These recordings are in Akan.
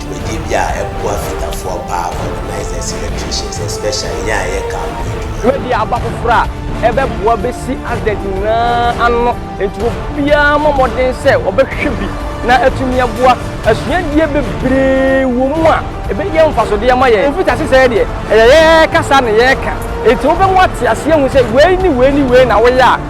Dwumadie bi a ɛboa Fitafoɔ paa Organized Celebrations especially yɛn a yɛka ho adwuma. Dwumadie aba foforɔ a ɛbɛboa bɛsi Asdec nyinaa ano enti obiara mmɔ mmɔden sɛ ɔbɛhwɛ bi na atumi aboa. Asuadie bebree wɔ mu a ɛbɛyɛ mfasodeɛ ama yɛn. Mfitiase sɛɛ deɛ ɛyɛ yɛn kasa na yɛka enti wobɛmu ate aseɛ ahu sɛ wei ne wei ne wei na woyɛ a,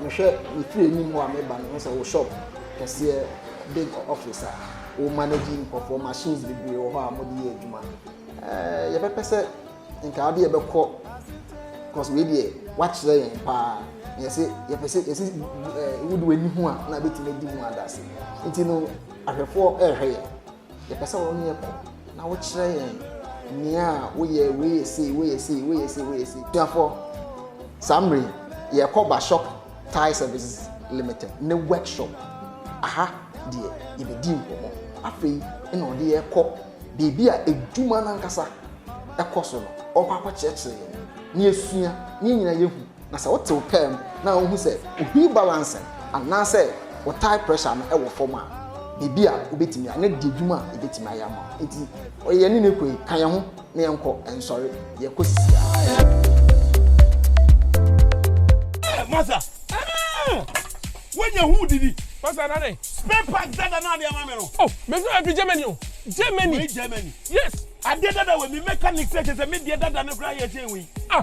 Mehwɛ me fie anim hɔ a meba no mehu sɛ wo shop kɛseɛ big office a wo manage nkurɔfoɔ machines bebree wɔ hɔ a wɔde yɛ adwuma ɛɛ yɛbɛpɛ sɛ nka adeɛ yɛbɛkɔ because wei deɛ wakyerɛ yɛn paa na yɛsɛ yɛpɛ sɛ yɛsɛ ɛɛ wode w'ani ho a na abɛtumi adi ho adase nti no ahwɛfoɔ ɛrehwɛ yɛn. Yɛpɛ sɛ wo ne yɛ kɔ na wokyerɛ yɛn nea woyɛ wei yɛ sei wei yɛ sei wei yɛ sei wei yɛ sei. Suafoɔ, saa mmerɛ yi yɛrekɔ Bashop Tire Services Limited ne workshop. Aha deɛ yɛbɛdi nkɔmmɔ. Afei na ɔde yɛn kɔ baabi a adwuma no ankasa kɔ so no, ɔrekɔ akɔkyerɛkyerɛ yɛn na yɛasua na yɛn nyinaa yɛahu. Na sɛ wote wo pɛɛ mu na wuhu sɛ ohwii balancing anaasɛ wo tire pressure no wɔ fam a, biribi a wubetumi ayɛ na di adwuma a ebetumi ayɛ ama wo. Enti, ɔyɛ yɛn ne no kɔ yi, ka yɛn ho na yɛnkɔ nsɔre, yɛkɔ sisiaa. Masa, eh, wanya hu didi. Masa nane. Spare part dada na ade ama me no. Oh, me feel happy Germany o. Germany. Wei Germany. Yes. Ade dada we me mechanic say say me de dada no kra ye chen we. Ah.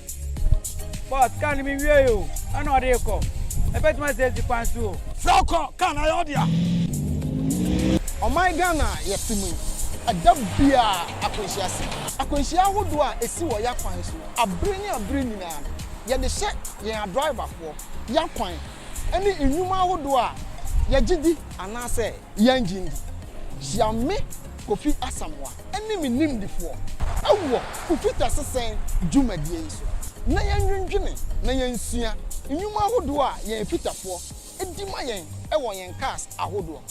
Bɔs, kar no menwiei o, ɛna ɔde rekɔ. Ɛbɛtumi asɛ asi kwan so o. Frɛ wo kɔ, kar no ayɛ wo dea. Ɔman Ghana a yɛte mu yi, ɛda biara akwanhyia si. Akwanhyia ahodoɔ a ɛsi wɔ y'akwan so abere ne abere nyinaa no, yɛde hyɛ yɛn adriverfoɔ y'akwan. ne nnwuma ahodoɔ a yɛgye di anaasɛ yɛnnye nndi. Hyia me, Kofi Asamoah, ne me nimdefoɔ wɔ Kufita sesɛn dwumadie yi so na yɛnnwendwene na yɛnsua nnwuma ahodoɔ a yɛn Fitafoɔ di ma yɛn wɔ yɛn cars ahodoɔ,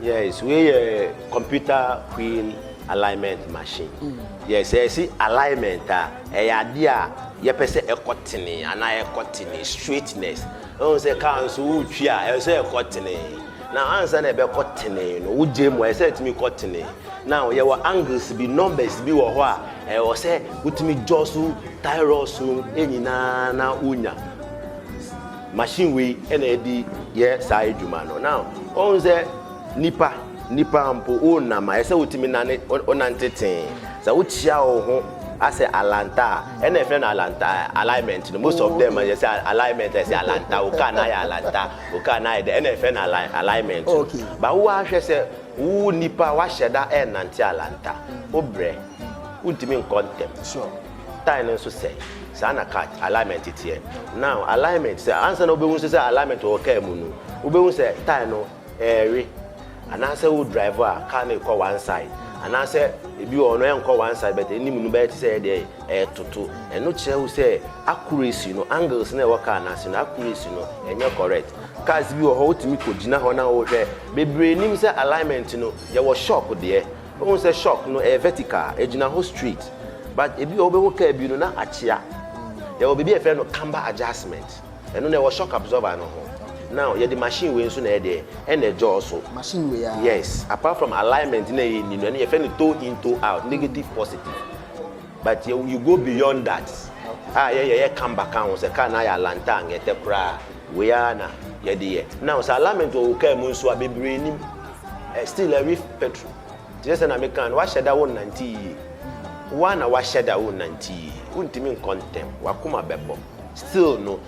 Yes wei yɛ computer wheel alignment machine mm. yes ɛsi alignment a ɛyɛ adeɛ a yɛpɛ sɛ ɛkɔ tene anaa ɛkɔ tene straightness ɛhu sɛ kaa nso wotwi a ɛwɔ sɛ ɛkɔ tene na ansa na ɛbɛkɔ tene no wogye mu ɛsɛ ɛtumi kɔ tene na yɛwɔ angles bi numbers bi wɔ hɔ a ɛwɔ sɛ wotumi dwɔ so thyroids no nyinaa na wonya Machine wei na ɛde yɛ saa adwuma no. Now, wɔn sɛ nipa, nipa mpo wonam a, ɛsɛ wotumi nane, wonante tee. Sɛ wokyia wo ho asɛ alanta a, ɛna ɛfrɛ no alanta alignment no. Most of them, yɛ sɛ alignment, ɛsɛ alanta, wo car na ayɛ alanta, wo car na ayɛ dɛ, ɛna ɛfrɛ no alignment no. Okay. Ba wo ahwɛ sɛ wo nipa wahyɛ da ɛnante alanta, wo brɛ, wontumi nkɔ ntɛm. Sure. Style no nso sɛe. Saa na cut, alignment, teɛ. Now, alignment, sɛ ansa na wobɛhu nso sɛ alignment wɔ car mu no, wobɛhu sɛ tyre no ɛrewe. Anaasɛ wo drive a, car no rekɔ one side. Anaasɛ ebi wɔ hɔ no ɛnkɔ one side but anim no bɛyɛ te sɛ ɛdeɛ ɛretoto. Ɛno kyerɛ wo sɛ accuracy no, angles no a ɛwɔ car no ase no, accuracy no ɛnyɛ correct. Cars bi wɔ hɔ wotumi kɔgyina hɔ na wohwɛ. Bebree nim sɛ alignment no, yɛwɔ shop deɛ. Wohu sɛ shop no ɛyɛ vertical, ɛgyina hɔ straight but ebi wɔ hɔ wobɛhu car bi no na akyea. Yɛwɔ biribi a yɛfrɛ no camber adjustment, ɛno no ɛwɔ shock absorber no ho. Now yɛde machine wei nso na ɛyɛ deɛ ɛna ɛdwɔɔ so. Machine wei aa? Yes, apart from alignment no a ɛyɛ ni no, ɛno yɛfrɛ no toe in toe out, negative positive but yɛ you go beyond that a yɛ yɛyɛ camber ka ho sɛ car no ayɛ alantang ɛtɛ koraa a wei aa na yɛde yɛ. Now sɛ alignment wɔ wo car mu nso a bebree nim. Still na reef petro te sɛ sɛna mekaa no wahyɛ da wo nnante yie wo a na wahyɛ da wo nnante yie wo ntumi nkɔ ntɛm wakoma bɛbɔ still no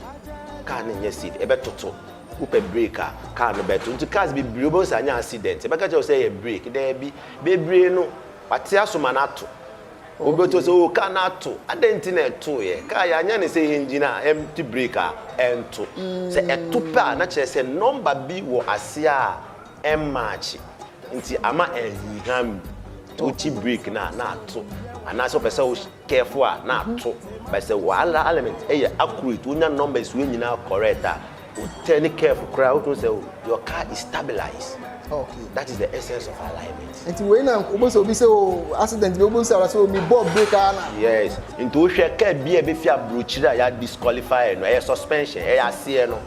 car no nyɛ safe ɛbɛtoto wopɛ break a car no bɛto nti cars bebree wobɛhu sɛ anyɛ accident ɛbɛka kyerɛ wo sɛ yɛ break daabi bebree no wate aso ma no ato wobɛto sɛ o car no ato adɛn nti na ɛtoeɛ car yɛanyɛ ne sɛ yɛ engine a empty break a ɛnto sɛ ɛto pɛ a na kyerɛ sɛ nɔmba bi wɔ aseɛ a ɛmmaakye nti ama ahunham mu nti wokyi break no a na ato anaasɛ wopɛ sɛ wo careful a na ato but sɛ wala element ɛyɛ accurate wonya numbers wei nyinaa correct a wo turn careful koraa wotumi sɛ your car is stabilized okay that is the essence of alignment nti wei na wobɛsɛ obi sɛ o oh, accident bi wobɛsɛ ara sɛ omi oh, bɔ break ara na yes nti wohwɛ car bi a ɛbɛfi aburokyiri a yɛ disqualify no ɛyɛ suspension ɛyɛ aseɛ no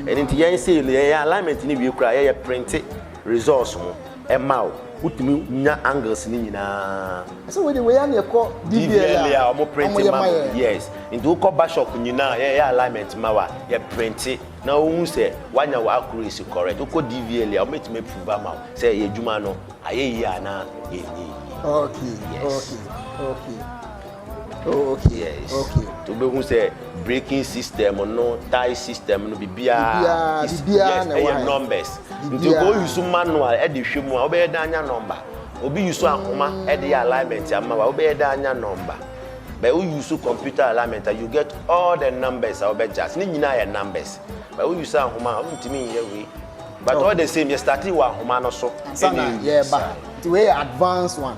Ɛno nti yɛn sei no yɛyɛ alignment no wie koraa yɛyɛ printe results no ɛma wo. Wotumi nya angles no nyinaa. Ɛsɛ wei de wei ano ɛkɔ DVLA a wɔn printe ma wo. Yes. Nti wokɔ bashop nyinaa yɛyɛ alignment ma wa yɛ printe na wohu sɛ wanya wɔ accuracy correct. Wokɔ DVLA a wɔbɛtumi approve ama wo sɛ yɛ adwuma no ayɛ yie anaa yɛnyɛ yie. Okay. Yes. Okay. Okay. Oh, okay. Yes. Okay. To be who say braking system no, tie system no, bibia. Bibia, is, bibia yes, na why? numbers. Nti ko use manual e de hwe mu a obeye da anya number. Obi use ahoma e de alignment ama wa obeye da anya number. But we use computer alignment you get all the numbers a obey just. Ni nyina ye numbers. But we use ahoma ontimi ye we. But okay. all the same, you started with ahoma no so. Sana, yeah, but the way advanced one.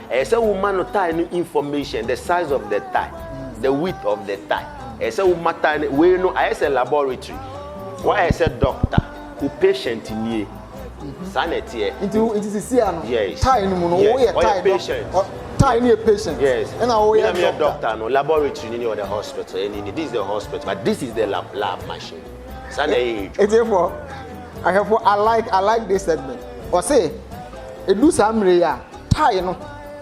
Ɛyɛ sɛ wo ma no tie no information, the size of the tie, the width of the tie. Ɛyɛ sɛ wo ma tie no, wei no ayɛ sɛ laboratory. Wayɛ sɛ doctor, wo patient nie. Saa na ɛteɛ. Nti nti sisi a no, tie no mu no, wo yɛ tie patient. Tie no yɛ patient. Yes. Ɛna wo yɛ doctor. doctor no, laboratory ni ni or the hospital. Ɛni ni, this is the hospital, but this is the lab, lab machine. Saa na ɛyɛ edwuma. Ɛti efo, ahwɛfo, I like, I like this segment. Ɔse, edu saa mmiri a. Tae no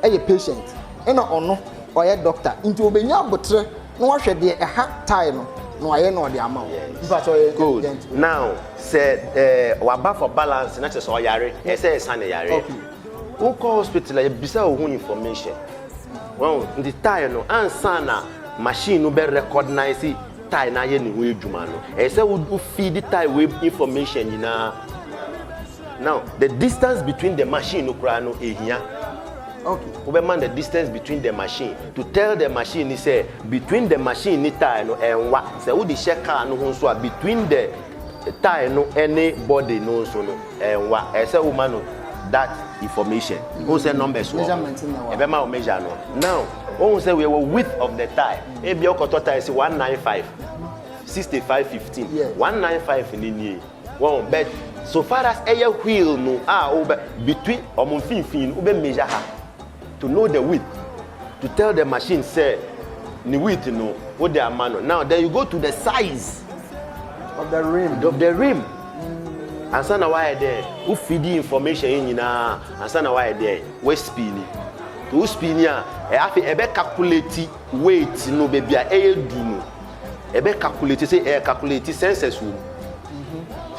yɛ patient na ɔno ɔyɛ doctor nti obenya aboterɛ na wahwɛ deɛ ɛha tae no na wayɛ na ɔde ama wo. Mpakyɛ ɔyɛ intelligent. Good. Now sɛ eh, waba for balance na kyerɛ sɛ ɔyare, ɛyɛ sɛ ɛsa ne yareɛ. Okay. Wokɔ hospital a yɛbisa wo ho information. Wahu? Nti tae no ansa na machine no bɛ recognize tae no ayɛ ne ho adwuma no, ɛyɛ sɛ wo feed tae wei information nyinaa. Now the distance between the machine no koraa no ehia. Okay. Wobɛma the distance between the machine to tell the machine ni sɛ between the machine ni tire no ɛnwa. Sɛ wode hyɛ car no ho nso a between the tire no ɛne body no nso no ɛnwa. Ɛsɛ woma no that information. Mm. Ohun sɛ numbers wɔ hɔ. Ɛbɛma wo measure no. Now ohun sɛ wɔ width of the tire. Ebi ɔkɔtɔ tire si one nine five sixty five fifteen. One nine five ni nie. Wahu? But so far as ɛyɛ wheel no a wobɛ between wɔn mfinfin no wobɛ measure ha to know the width to tell the machine sɛ ne width no wode ama no now then you go to the size of the rim of the rim ansa na wayɛ dɛ wo feed information yi nyinaa ansa na wayɛ dɛ wo spin to wo spin a ɛyɛ afei ɛbɛ calculate weight no baabi a ɛyɛ du no ɛbɛ calculate sɛ ɛyɛ calculate census wɔ mu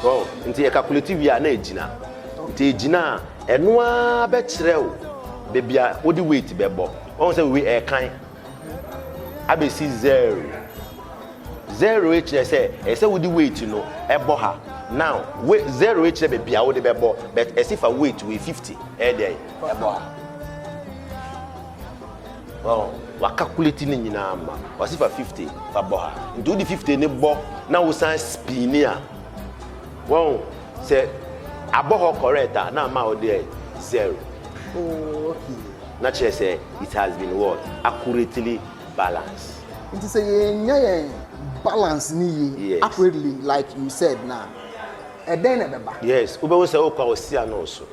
so nti yɛ calculate wie a na ɛgyina nti ɛgyina a ɛno ara bɛkyerɛ o baabi a wode weight bɛbɔ wɔn sɛ wei ɛkan abɛsi zero zero kyerɛ sɛ ɛyɛ sɛ wode weight no ɛbɔ ha now we zero kyerɛ baabi a wode bɛbɔ but ɛsi fa weight wei fifty ɛyɛ dɛ ɛbɔ ha. Well, w'acakuleti ne nyinaa ma. W'ase fa fifty fa bɔ ha. Nti wode fifty ne bɔ na wosan spini a, wahu, sɛ abɔ hɔ correct a, na ama wode ayɛ zero. Oh, okay. Na kyerɛ sɛ it has been what? Accurately balanced. Nti sɛ yɛannya yɛn balance ne yie, Yes. accurately like you said no a, ɛdɛn na ɛbɛba? Yes, wobɛhu sɛ wokɔ a ɔsi ano wo so.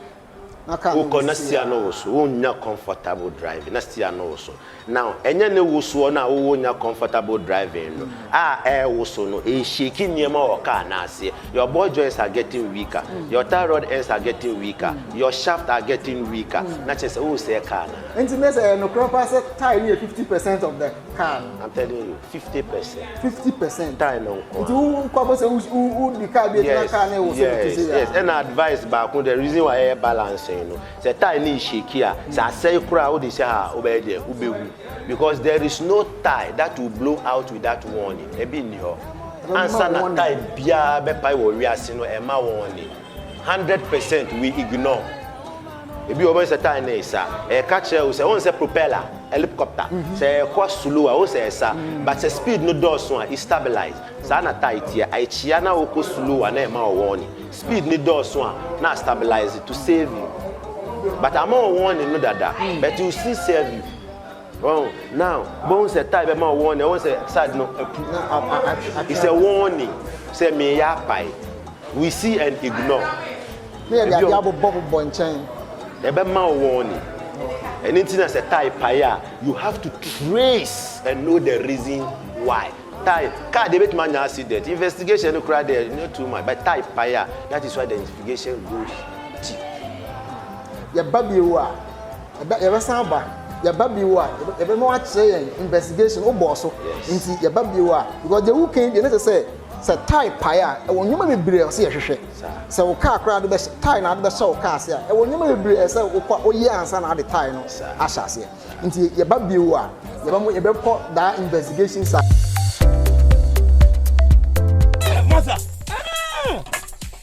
na car no wokɔ na nsi steer no a. woso wonnya comfortable driving na steer no woso now ɛnyɛ ne wosoɔ no a wowɔ nya comfortable driving no a ɛrewoso no ɛreshake nneɛma wɔ car no aseɛ your ball joints are getting weaker your tie rod ends are getting weaker your shaft are getting weaker na kyerɛ sɛ wosɛɛ car no a. Nti mese ɛyɛ nokorɛ paa sɛ tie no yɛ fifty percent of the. car no. I'm telling you, fifty percent. Fifty percent. Tie no nkwa. Nti wo nkwa bɔ sɛ wo di car bi ɛtena car na ɛwɔ so no kese ya. Yes, yes. Ɛna advice baako the reason why ɛyɛ balancing no. Sɛ tie no shake a, sɛ asɛe koraa wode hyɛ ha a wobɛyɛ deɛ wobɛhu because there is no tie that will blow out without warning. Ebi nni hɔ. Ansa na tie biara bɛpae wɔ wiase no ɛma warning. Hundred percent we ignore ebi wɔ hɔ bɛn sɛ tae na ɛsa ɛka kyerɛ wo sɛ wɔn sɛ propeller helicopter sɛ ɛkɔ slow a wo sɛ ɛsa but sɛ speed no dɔɔso a i stabilize saa na tae teɛ akyia na wokɔ slow a na ɛma wɔ wɔn speed no dɔɔso a na a stabilize to save you but ama wɔ wɔn no dada but you still save you. Wahu? Now, wobɛhu sɛ tae bɛma wo wɔn, na ɛwɔ sɛ saa ade no apu. It's a warning. Sɛ meyɛ apae. We see and ignore. Ne yɛde adeɛ abobɔbobɔ nkyɛn. Ɛbɛma wo wɔn ni. Ɛno nti na sɛ tae pae a, you have to trace and know the reason why. Tae, car deɛ ebɛtumi anya accident. Investigation no koraa deɛ, no too much. But tae pae a, that is why the investigation goes deep. Yɛba bio a. Ɛbɛ yɛbɛsan aba yɛba bio a yɛbɛma wakyerɛ yɛn investigation wobɔɔ so nti yɛba bio a because deɛ wokan deɛ ne sɛ sɛ sɛ tae pae a ɛwɔ nneɛma bebree a ɔsɛ yɛhwehwɛ sɛ wo kaa koraa de bɛhyɛ tae na ade bɛhyɛ wo kaa ase a ɛwɔ nneɛma bebree a ɛsɛ wokɔ woyɛ ansa na ade tae no ahyɛ aseɛ nti yɛba bio a yɛbɛmo yɛbɛkɔ daa investigation sa.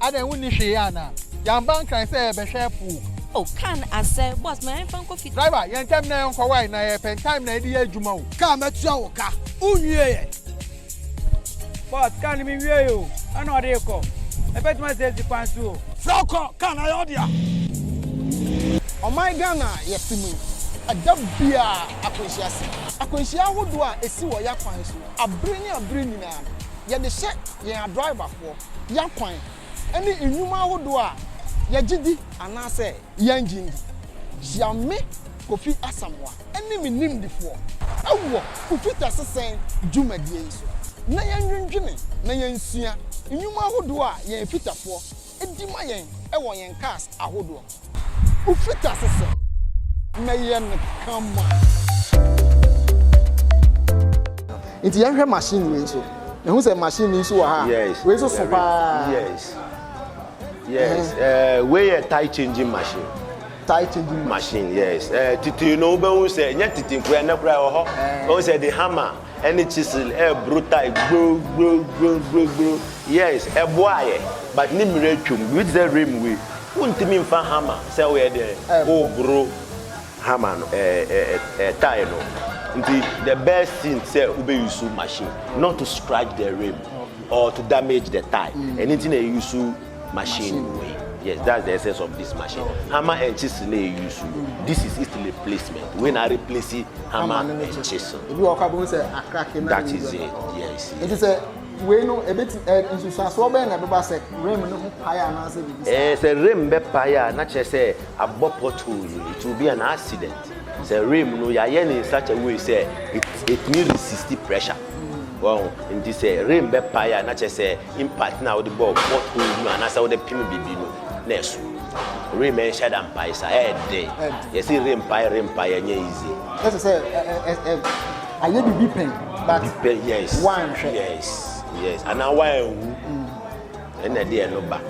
Adɛn wonni hwee anaa? Yɛamba Nkran sɛ yɛrebɛhwɛ po. O, car no asɛe. Boss, ma yɛmfa nkɔ fie. Driver, yɛ ntɛm na yɛnkɔ. Wai, na yɛrepɛ time na yɛde yɛ adwuma o. Car, mɛtua wo ka. Wonwiee ɛ? Boss, car no menwiei o. Ɛna ɔde rekɔ. Yɛbɛtumi asi asi kwan so o. Frɛ wo kɔ, car no ayɛ wo dea. Ɔman Ghana a yɛte mu yi, ɛda biara akwanhyia si. Akwanhyia ahodoɔ a ɛsi wɔ yɛn akwan so abere ne abere nyinaa no, yɛde hyɛ yɛn adriverfoɔ. yɛn akwan ne nnwuma ahodoɔ a yɛgye di anaasɛ yɛnnye ndi. Hyia me, Kofi Asamoah, ne me nimdefoɔ wɔ Kofi Teasesan dwumadie yi so na yɛnnwendwene na yɛnsua nnwuma ahodoɔ a yɛn fitafoɔ di ma yɛn wɔ yɛn cars ahodoɔ ho. Wofita so sɛ, Mɛyɛ no kama. Nti yɛn hwɛ machine wei nso. Ehu sɛ machine nso wɔ ha. Yes. Wei nso so paa. Yes. Yes. Ɛɛ eh. eh, wei yɛ tie changing machine. Tie changing machine. Yes. Ɛɛ eh, tete no wobɛhu sɛ nyɛ tete nkura ɛnɛ kura wɔ hɔ. Wɔn sɛ de hammer. ɛne chisel ɛɛboro tae gbro gbro gbro gbro gbro yes ɛboa yɛ but ne mmerɛ atwam biribi te sɛ rim wei wontumi nfa hammer sɛ woyɛ deɛn woboro hammer no ɛɛ ɛɛ ɛɛ tae no nti the best thing sɛ wobɛ use machine not to scratch the rim or to damage the tae ɛno nti na yɛ use. machine wei yes that's the essence of this machine hammer and chisel na yɛ use no this is its replacement wei na replace hammer and chisel ebi wɔ kɔ abom sɛ akrake na that is it yes nti sɛ wei no ebeti ɛ nsusuasoɔ bɛyɛ na ɛbɛba sɛ rim no ho pae anaasɛ bibi sɛ ɛɛ sɛ rim bɛ pae a na kyerɛ sɛ abɔ pothole no it will be an accident sɛ rim no yɛayɛ ne in such a way sɛ it it need resist pressure. Wahu? Nti sɛ rain bɛ pae a, na kyerɛ sɛ impact na wode bɔɔ pot hole no anaasɛ wode pem biribi no, na ɛso. Rain ɛnhyɛ da mpae saa, ɛyɛ den. Yɛsi rain pae, rain pae, ɛnyɛ easy. Ɛsɛ sɛ ayɛ biribi pɛn, but wanhwɛ. Yes, yes, anaa wanhu. Ɛna ɛde ɛno ba.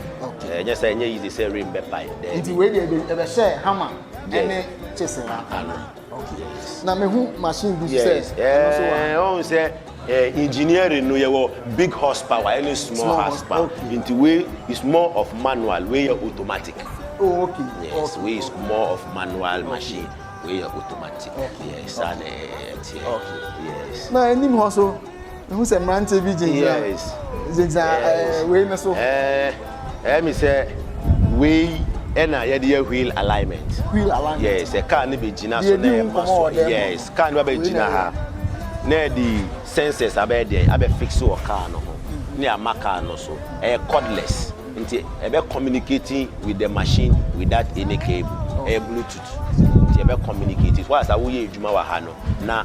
Ɛnyɛ sɛ ɛnyɛ easy sɛ rain bɛ pae. Nti wei deɛ ɛbɛhyɛ hammer ɛne chisel. na mehu machine bi sɛ ɛno nso wɔ ha. ɔhu sɛ engineering no yɛwɔ big horsepower ɛne small horsepower nti wei is more of manual wei yɛ automatic. oh okay yes wei is more of manual machine wei yɛ automatic yes saa na ɛteɛ yes. na anim hɔ so. mehu sɛ mmeranteɛ bi gyinagyina gyinagyina ɛɛ wei no so. ɛɛ ɛyɛ mi sɛ wei ɛna yɛde yɛ wheel alignment. wheel alignment yes ɛkaa ne bɛ gyina so na ɛma so yes kaa ne ba bɛ gyina ha na ɛde sensors abɛyɛ deɛ abɛ fix wɔ kaa no ho mm-hmm. ne ama kaa no so ɛyɛ cordless nti ɛbɛ communicating with the machine without any cable ɛyɛ bluetooth nti ɛbɛ communicate so wasa woyɛ adwuma wɔ ha no na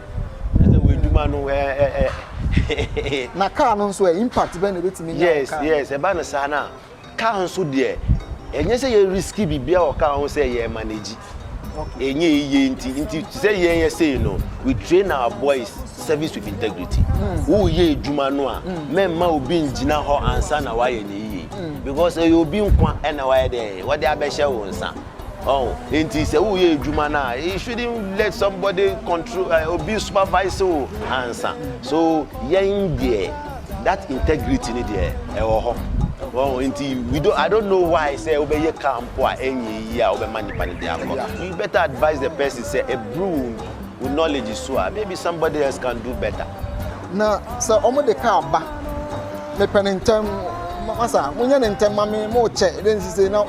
Ɛsɛ wo adwuma no ɛ eh, ɛ. Eh, eh, na kaa no nso ɛ impact bɛn na ebetumi nya yes, kaa. Yes yes ɛba no saa na kaa nso deɛ ɛnyɛ sɛ yɛ risky biribi a wɔ kaa ho sɛ yɛ manage. Ɛnyɛ yie nti nti sɛ yɛn yɛ sei no we train our boys service with integrity. Hmm. Woyɛ adwuma no a hmm. mɛmma obi ngyina hɔ ansa na wayɛ ne yie hmm. because ɛyɛ obi nkwa ɛna wayɛ dɛ wɔde abɛhyɛ wo nsa. Ɔho nti sɛ wo yɛ edwuma no a you shouldn't let somebody control uh, obi supervise wo ansa so yɛn deɛ that integrity ni deɛ ɛwɔ hɔ ɔho nti we don't I don't know why sɛ wobɛyɛ car mpo a ɛnyɛ yi a wobɛma nipa no de akɔ you better advise the person sɛ eburu wo knowledge so a maybe somebody else can do better. na sɛ wɔn de car ba mepɛ ne ntɛm masa mo nyɛ ne ntɛm ma me mo kyɛ ɛdɛ nsise na.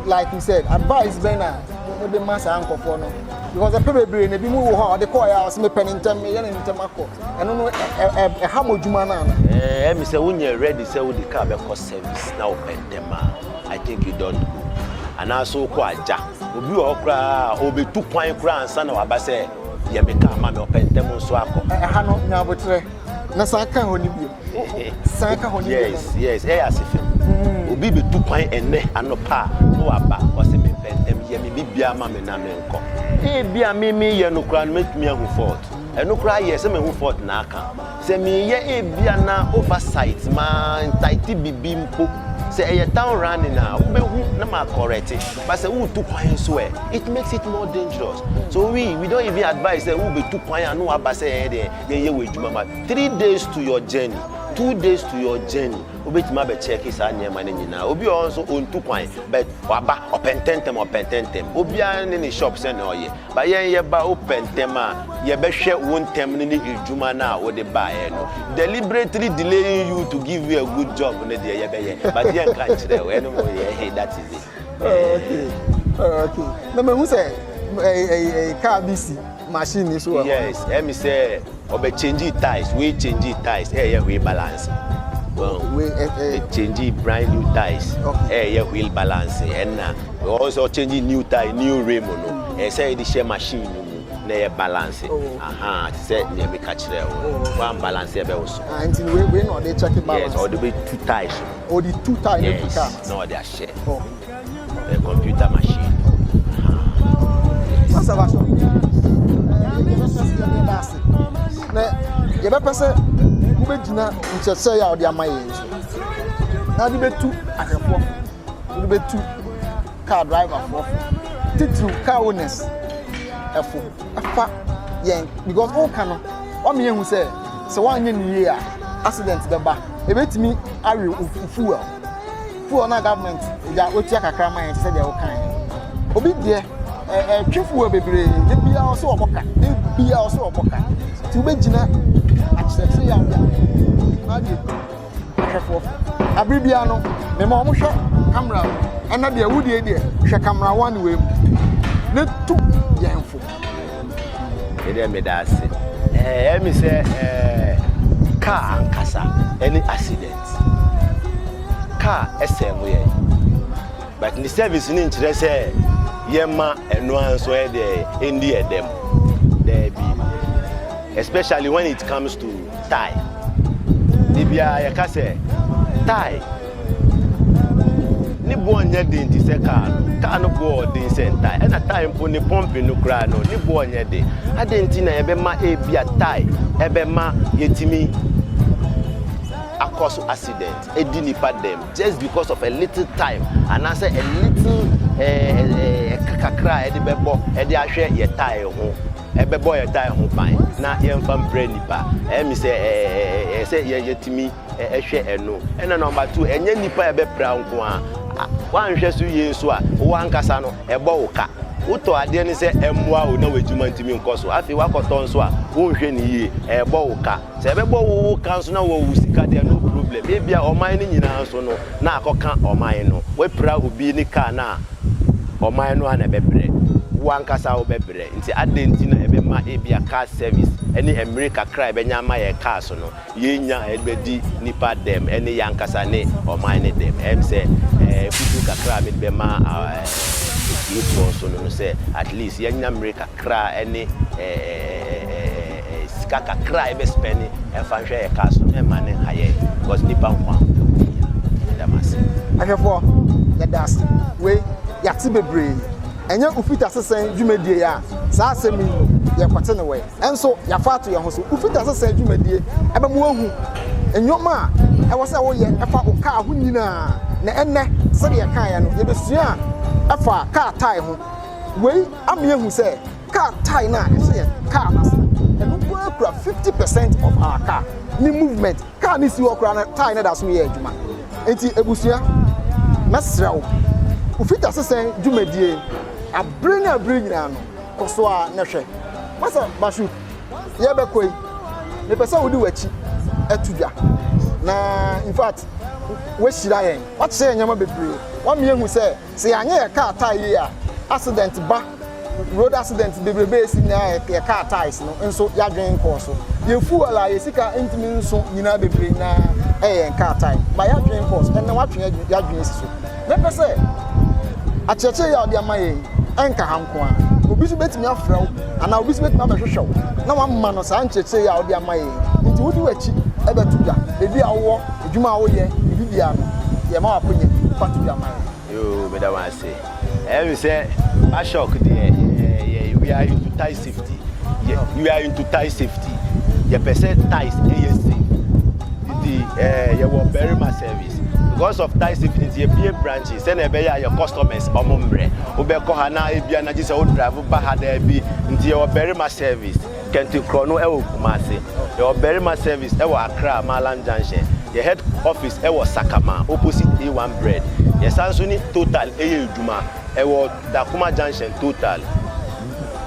like you said advice bɛn na mo de ma saa nkɔfoɔ no because ɛpɛ bebree na ebi mu wɔ hɔ a ɔde kɔɔ yɛ a ɔsɛ mepɛ ne ntɛm meyɛ ne ntɛm akɔ ɛno no ɛha mo adwuma no ana. ɛɛ mi sɛ wonyɛ ready sɛ wode kaa bɛkɔ service na wopɛ ntɛm a i think you don't go anaasɛ wokɔ agya obi wɔ hɔ koraa ɔbɛtu kwan koraa ansa na waba sɛ yɛ me kaa ma me ɔpɛ ntɛm nso akɔ. ɛha no nya aboterɛ na san ka hɔ no bio. san ka hɔ ne yɛ yes yes ɛyɛ ase fɛ mm. obi bɛtu kwan ɛnɛ anɔpa a na waba ɔsɛ mepɛ ntɛm yɛ me bibia ma me na menkɔ ebi a memeyɛ no koraa no mɛtumi ahu fort ɛno koraa yɛ sɛ mahu fort na aka sɛ meyɛ ebi a na oversight ma ntaete bibi mpo sɛ ɛyɛ town running a wobɛhu na ma correct ba sɛ wotu kwan so ɛ it makes it more dangerous so we we don't even advise sɛ wobɛtu kwan a na waba sɛ ɛyɛ deɛ yɛyɛ wɔ adwuma ma Three days to your journey, two days to your journey, wobɛtumi abɛ check saa nneɛma no nyinaa. Obi wɔ hɔ nso ɔntu kwan but waba ɔpɛ ntɛntɛm ɔpɛ ntɛntɛm. Obiara ne ne shop sɛnea ɔyɛ but yɛn yɛba wopɛ ntɛm a yɛbɛhwɛ wo ntɛm no ne adwuma no a wode baeɛ no. Deliberately delaying you to give you a good job no deɛ yɛbɛyɛ but yɛnka nkyerɛ wo ɛno mo yɛ he that is it. na mahu sɛ kaa bi si machine ni so wɔ yes ɛmi sɛ ɔbɛ change ties wei change ties ɛyɛ eh, wheel balance change brand new ties ɛyɛ wheel balance ɛna ɔsɛ ɔchange new tie new rim no ɛsɛ yɛde hyɛ machine no mu na ɛyɛ balance aha te sɛ nea meka kyerɛ wo wan balance ɛbɛ wo so nti wei na ɔde check balance yes ɔde bɛ two ties ɔde two ties yes na ɔde ahyɛ Hyɛ ɛ computer machine no na yɛbɛpɛ sɛ wobɛgyina nkyerɛkyerɛ yɛ a wɔde ama yɛn so na wode bɛtu ahwɛfoɔ wode bɛtu car driverfoɔ titiriw car owners ɛfo ɛfa yɛn because woka no wama yɛhu sɛ sɛ woanyɛ ne yie a accident bɛba ɛbɛtumi awe wo fuel fuel na government ya otua kakra ma yɛn sɛ deɛ wokan obi deɛ ɛtwe fuel bebree ne bia ɔsɛ ɔbɔ ka ne bia ɔsɛ ɔbɔ ka nti wobɛgyina akyerɛkyerɛ yɛ adeɛ na adeɛ ahwɛfoɔ abere bia no mema wɔn hwɛ kamera ɛna deɛ wo deɛ deɛ hwɛ kamera wɔn ne wei mu ne tu yɛn fo. Me deɛ meda ase. Ɛyɛ me sɛ kaa ankasa ɛne accident. Kaa ɛsɛ mo yɛn. But ne service ne nkyerɛ sɛ yɛma ɛno ara nso ɛdeɛ ɛndi ɛdɛm. Daabi. Especially when it comes to tae. Da biara yɛka sɛ, Tae ne boɔ nyɛ den te sɛ kaa no. Kaa no boɔ yɛ den sɛn tae? Ɛna tae mpo ne pɔmpe no koraa no, ne boɔ nyɛ den. Adɛn nti na ɛbɛma ebia tae ɛbɛma yɛtumi akɔ so accident, adi nipa dɛm, just because of a little time, anaasɛ a little ɛɛ eh, ɛɛ eh, eh, ɛka kakra a yɛde bɛbɔ ɛde ahwɛ yɛ tae ho. ɛbɛbɔ yɛn tae ho ban na yɛmfa mprɛ nnipa. Ɛyɛ me sɛ ɛyɛ sɛ yɛatumi hwɛ ɛno. Ɛna nɔmba two, ɛnyɛ nnipa a ɛbɛpira wo nko ara. Woanhwɛ so yie nso a, wo ankasa no, ɛbɔ wo ka. Wotɔ adeɛ no sɛ ɛmmoa wo na w'adwuma ntumi nkɔ so. Afei woakɔtɔ nso a, wonhwɛ no yie, ɛrebɔ wo ka. Sɛ ɛbɛbɔ wo wo ka nso na wowɔ wo sika deɛ, no problem. Ebia ɔman no nyinaa nso no, na akɔka ɔman no. Woapira obi ne kaa no a, ɔman no ara na ɛbɛbrɛ. Wo ankasa wobɛbrɛ. Enti adɛn nti na ɛbɛma ebia car service ne mmere kakra a yɛbɛnya ama yɛn cars no, yɛrennya a yɛde bɛdi nnipa dɛm ne yɛn ankasa ne ɔman no dɛm? Ɛyɛ me sɛ afotu kakra a mede bɛma atiefoɔ nso no no sɛ at least yɛnya mmere kakra ne sika kakra a yɛbɛ spɛne mfa nhwɛ yɛn cars no, mɛmma no nha yɛn because nnipa nkwa wɔ hia. Meda mo ase. Ahwɛfoɔ, yɛda ase. Wei, yɛate bebree. Ɛnyɛ Ufitasesɛn dwumadie a saa asɛm yi yɛkɔte no wɔ ɛ nso yɛafa ato yɛn ho so. Ufitasesɛn dwumadie bɛma woahu nnoɔma a ɛwɔ sɛ woyɛ fa wo kaa ho nyina ara, na ɛnnɛ sɛdeɛ yɛkaeɛ no yɛbɛsua fa kaa tae ho. Wei ama yɛahu sɛ kaa tae no a ɛhyɛ yɛn kaa no ase no, ɛno nko ara kura 50 percent of our car ne movement. Car no si hɔ koraa no tire no da so yɛ adwuma nti abusua mɛsrɛ wo wo fitasesɛn dwumadie abere ne abere nyinaa no kɔ so a na hwɛ masa bashu yɛbɛkɔ yi mepɛ sɛ wode w'akyi ato dwa na in fact wahyira yɛn wakyerɛ yɛn nneɛma bebree wama yɛhu sɛ Sɛ yɛanyɛ yɛn car tyre yie a, accident ba, road accident bebrebe a ɛsi nyaa yɛn car tyres no nso yɛadwene nkɔɔ so. Yɛn fuel a yɛn sika ntumi nso nyinaa bebree nyinaa yɛ yɛn car tyre. Ba yɛadwene nkɔɔ so, ɛnnɛ woatwe yɛadwene asi so. Mɛpɛ sɛ akyerɛkyerɛ yi a wode ama yɛn yi ɛnka ha nko ara. Obi nso bɛtumi afrɛ wo anaa obi nso bɛtumi abɛhwehwɛ wo na wama no saa nkyerɛkyerɛ yi a wode ama yɛn yi. Nti wode w'akyi bɛto dwa baabi a wowɔ. Edwuma a woyɛ, biribi biara no, yɛma w'akonya bi. Fa to dwa ma yɛn. Yoo, meda mo ase. Ɛyɛ me sɛ Bashork deɛ yɛ we are into tie safety. Yɛ we are into tie safety. Yɛpɛ sɛ ties ɛyɛ safe. Nti ɛɛ yɛwɔ barima service. Because of tie safety nti yɛbie branches sɛnea ɛbɛyɛ a yɛ customers wɔn mmerɛ. Wobɛkɔ ha na ebia na gye sɛ wo drive ba ha daabi. Nti yɛwɔ barima service. Kente korɔ no wɔ Kumase. Yɛwɔ barima service wɔ Accra Maalam junction. Yɛn head office wɔ Sakama opposite A one bread. Yɛsan nso ne Total yɛ adwuma. Ɛwɔ Dakoma junction Total.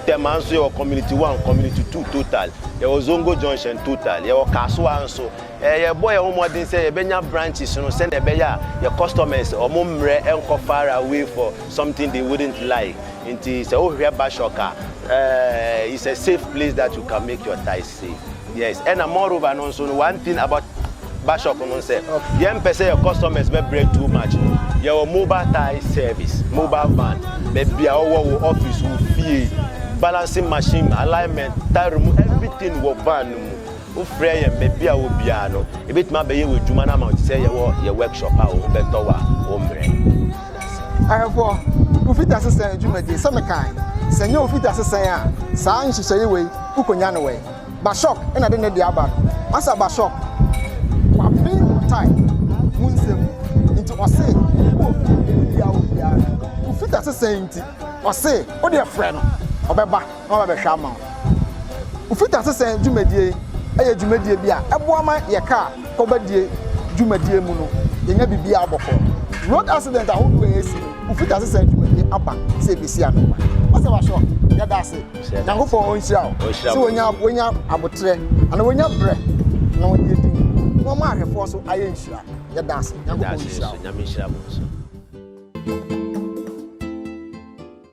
Tema nso yɛwɔ community one, community two Total. Yɛwɔ Zongo junction Total. Yɛwɔ Kasoa nso. Yɛrebɔ yɛn ho mmɔden sɛ yɛbɛnya branches no sɛnea ɛbɛyɛ a yɛn customers wɔn mmerɛ nkɔ far away for. something they wouldn't like nti sɛ wohwɛ Bashork a eh, it's a safe place that you can make your ties safe yes ɛna moreover no nso no one thing about Bashork no sɛ yɛmpɛ sɛ yɛ customers bɛbrɛ too much no yɛwɔ mobile tie service mobile van baabi a ɔwɔ wo office wo fie balancing machine alignment tie room everything wɔ van no mu Wofrɛ yɛn baabi a wɔ biara no, yɛbɛtumi abɛyɛ wo adwuma no ama wo te sɛ yɛwɔ yɛ workshop a wobɛtɔ a wommrɛ. Ɛwɔ ofi dasesɛn adwumadie sɛ mekae, sɛ nyɛ ofi dasesɛn a saa nhyehyɛeɛ wei wokɔnya no wɛn? Bashork na de ne deɛ aba no. Masa Bashork waben Otai mu nsɛm nti ɔse wɔ ofi baabi biara wɔ biara no ofi dasesɛn nti ɔse wodeɛ frɛ no ɔbɛba. na wɔaba abɛhwɛ ama wo. Wo fitasesɛn dwumadie yɛ dwumadie bi a ɛboa ma yɛkaa kɔbadie dwumadie mu no yɛnya biribiara bɔkɔɔ. Road accident ahodoɔ a ɛsi no wo fitasesɛn dwumadie aba sɛ ɛbɛsi ano. Pastor Basho, yɛda ase. Nyankopɔn ɔnhyira wo sɛ wanya wanya aboterɛ anaa wanya berɛ na wɔde yɛ din na wɔma ahwɛfoɔ nso ayɛ nhyira. Yɛda ase. Nyankopɔn nhyira wo.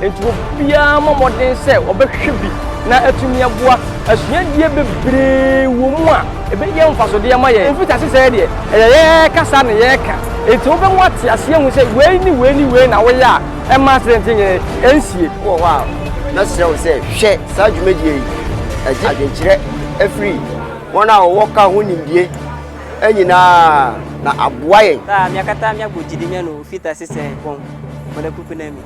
Enti obiara mmɔ mmɔden sɛ ɔbɛhwehwɛ bi na atumi aboa. Asuadeɛ bebree wɔ mu a ɛbɛyɛ mfasodeɛ ama yɛn. Mfitiase sɛɛ deɛ, ɛyɛ yɛn kasa na yɛka. Enti wobɛmu ate aseɛ ahu sɛ wei ne wei ne wei na woyɛ a ɛmma asidɛnte nyɛ yɛn nsie. Wowɔ hɔ a, mɛsrɛ wo sɛ hwɛ saa dwumadie yi. Ɛgye adwenkyerɛ firi wɔn a wɔwɔ ka ho nimdeɛ nyinaa na aboa yɛn. Taa, miakata miagbɔ gyidi mianɔ ofitase sɛn kɔn mɔdɛ kuku na mi.